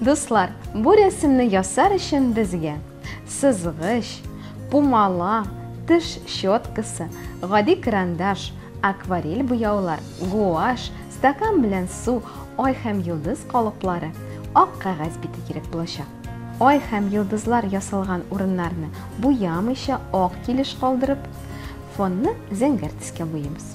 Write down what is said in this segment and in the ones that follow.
Дуслар, бу рәсемне ясар өчен безгә сызгыч, пумала, теш щеткасы, гади карандаш, акварель буяулар, гуаш, стакан белән су, ай һәм йолдыз калыплары, ак кәгазь бите кирәк булачак. Ай һәм йолдызлар ясалган урыннарны буямыйча ак килеш калдырып, фонны зәңгәр төскә буйыйбыз.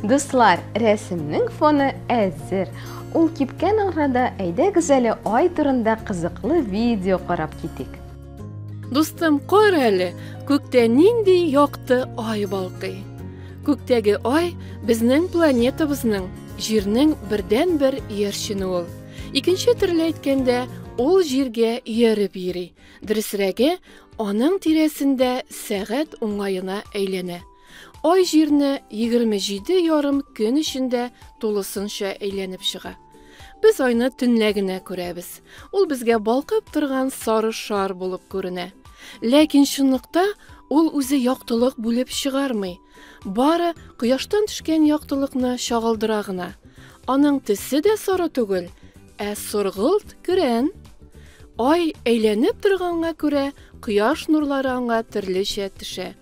Дуслар, рәсемнең фоны әзер. Ул кипкән арада әйдәгез әле ай турында кызыклы видео карап китик. Дустым, кар әле, күктә нинди якты ай балкый. Күктәге ай безнең планетабызның, җирнең бердән-бер иярчене ул. Икенче төрле әйткәндә, ул җиргә ияреп йөри, Дөресрәге, аның тирәсендә сәгать уңаена әйләнә. Ай Җирне 27 ярым көн эчендә тулысынча әйләнеп чыга. Без Айны төнлә генә күрәбез. Ул безгә балкып торган сары шар булып күренә. Ләкин чынлыкта ул үзе яктылык бүлеп чыгармый, бары Кояштан төшкән яктылыкны чагылдыра гына. Аның төсе дә соры түгел, Ә соргылт, көрән. Ай әйләнеп торганга күрә, кояш нурлары аңа төрлечә төшә.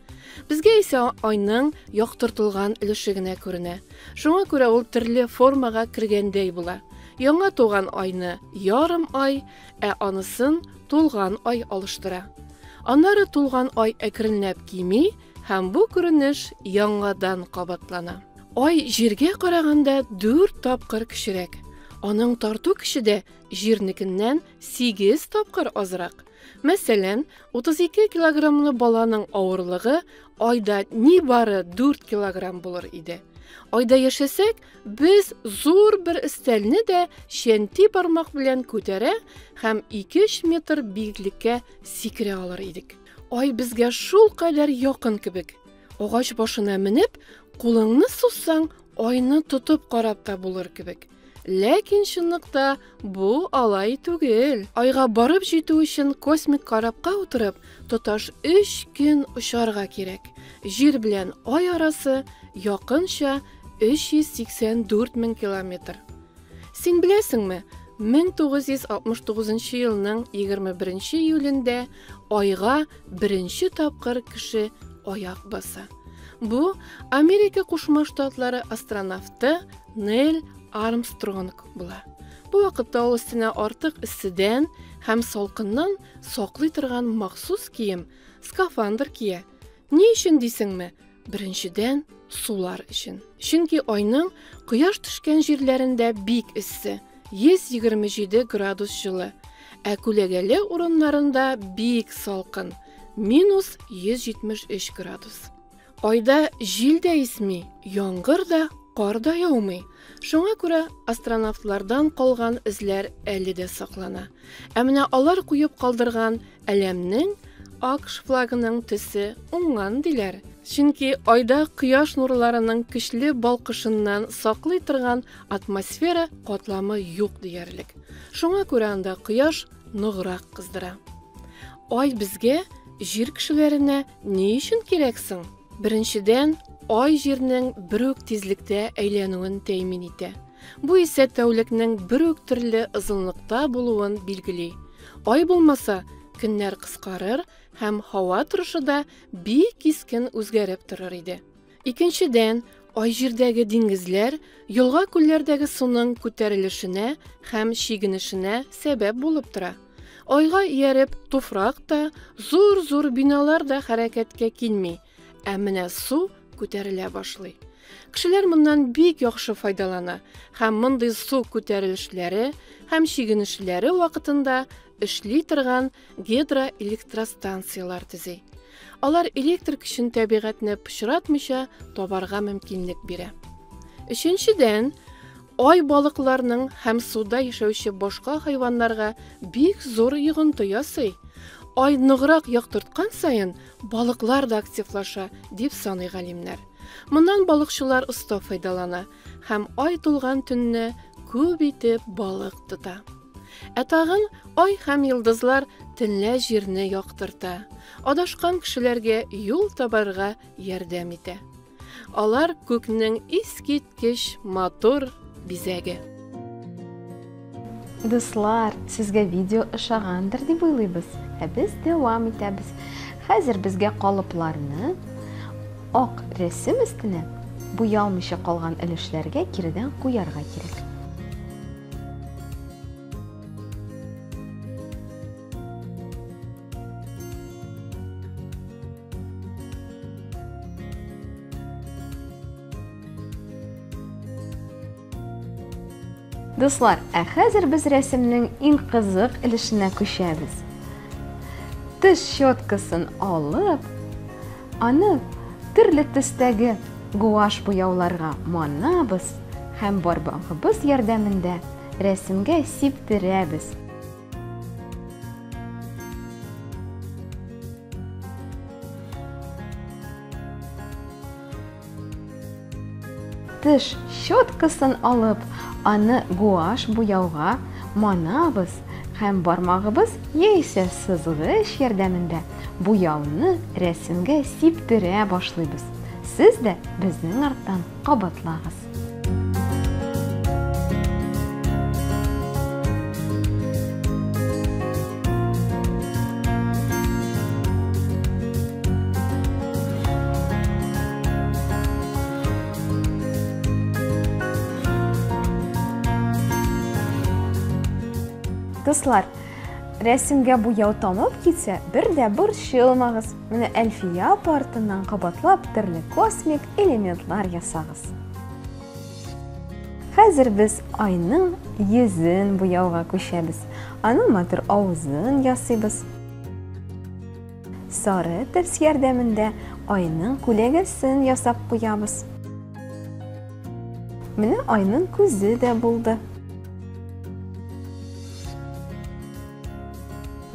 Безгә исә айның яктыртылган өлеше генә күренә. Шуңа күрә ул төрле формага кергәндәй була. Яңа туган айны ярым ай, ә анысын тулган ай алыштыра. Аннары тулган ай әкренләп кими, Һәм бу күренеш яңадан кабатлана. Ай Җиргә караганда дүрт тапкыр кечерәк. Аның тарту көче дә Җирнекеннән сигез тапкыр азрак. Мәсәлән, 32 килограммлы баланың авырлыгы Айда нибары 4 килограмм булыр иде. Айда яшәсәк, без зур бер өстәлне дә чәнти бармак белән күтәрә һәм 2-3 метр биеклеккә сикерә алыр идек. Ай безгә шул кадәр якын кебек. Агач башына менеп, кулыңны сузсаң, айны тотып карап та булыр кебек. Ләкин чынлыкта бу алай түгел. Айга барып җитү өчен космик корабка утырып, тоташ 3 көн очарга кирәк. Җир белән ай арасы якынча 384 мең километр. Син беләсеңме, 1969 елның 21 июлендә Айга беренче тапкыр кеше аяк баса. Бу Америка Кушма Штатлары астронавты Нель Армстронг була. Бу вакытта ул өстенә артык эсседән һәм салкыннан саклый торган махсус кием, скафандр кия. Ни өчен дисеңме? Беренчедән, сулар өчен. Чөнки айның кояш төшкән җирләрендә бик эссе, 127 градус җылы, ә күләгәле урыннарында бик салкын, минус 173 градус. Айда җил дә исми, яңгыр да, кар да яумый. Шуңа күрә астронавтлардан калган эзләр әле дә саклана. Ә менә алар куеп калдырган Әләмнең АКШ флагының төсе уңган диләр. Чөнки айда кояш нурларының көчле балкышыннан саклый торган атмосфера катламы юк диярлек. Шуңа күрә анда кояш ныграк кыздыра. Ай безгә, җир кешеләренә ни өчен кирәк соң? Беренчедән, ай җирнең бер үк тизлектә әйләнүен тәэмин итә. Бу исә тәүлекнең бер үк төрле озынлыкта булуын билгели. Ай булмаса, көннәр кыскарыр һәм һава торышы да бик кискен үзгәреп торыр иде. Икенчедән, Ай Җирдәге диңгезләр, елга-күлләрдәге суның күтәрелешенә һәм чигенешенә сәбәп булып тора. Айга ияреп, туфрак та, зур-зур биналар да хәрәкәткә килми, Ә менә су күтәрелә башлый. Кешеләр моннан бик яхшы файдалана һәм мондый су күтәрелешләре һәм чигенешләре вакытында эшли торган гидроэлектростанцияләр төзи. Алар электр көчен табигатьне пычратмыйча табарга мөмкинлек бирә. Өченчедән, Ай балыкларның һәм суда яшәүче башка хайваннарга бик зур йогынты ясый. Ай ныграк яктырткан саен, балыклар да активлаша, дип саный галимнәр. Моннан балыкчылар оста файдалана һәм ай тулган төнне күп итеп балык тота. Ә тагын ай һәм йолдызлар төнлә җирне яктырта, адашкан кешеләргә юл табарга ярдәм итә. Алар күкнең искиткеч матур бизәге. Дуслар, сезгә видео ошагандыр дип уйлыйбыз. Ә без дәвам итәбез. Хәзер безгә калыпларны ак рәсем өстенә буялмыйча калган өлешләргә киредән куярга кирәк. Дуслар, ә хәзер без рәсемнең иң кызык өлешенә күчәбез. Теш щеткасын алып, аны төрле төстәге гуаш буяуларга манабыз һәм бармагыбыз ярдәмендә рәсемгә сиптерәбез. Тыш щеткасын алып, аны гуаш буяуга манабыз һәм бармагыбыз яисә сызгыч ярдәмендә буяуны рәсемгә сиптерә башлыйбыз. Сез дә безнең арттан кабатлагыз. Дуслар, рәсемгә буяу тамып китсә, бер дә борчылмагыз. Менә Әлфия апа артыннан кабатлап төрле космик элементлар ясагыз. Хәзер без айның йөзен буяуга күчәбез. Аның матур авызын ясыйбыз. Сары терс ярдәмендә айның күләгәсен ясап куябыз. Менә айның күзе дә булды.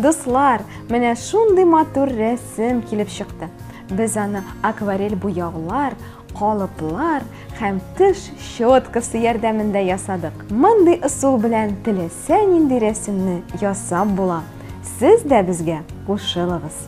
Дуслар, менә шундый матур рәсем килеп чыкты. Без аны акварель буяулар, калыплар һәм тыш щеткасы ярдәмендә ясадык. Мондый ысул белән теләсә нинди рәсемне ясап була. Сез дә безгә кушылыгыз.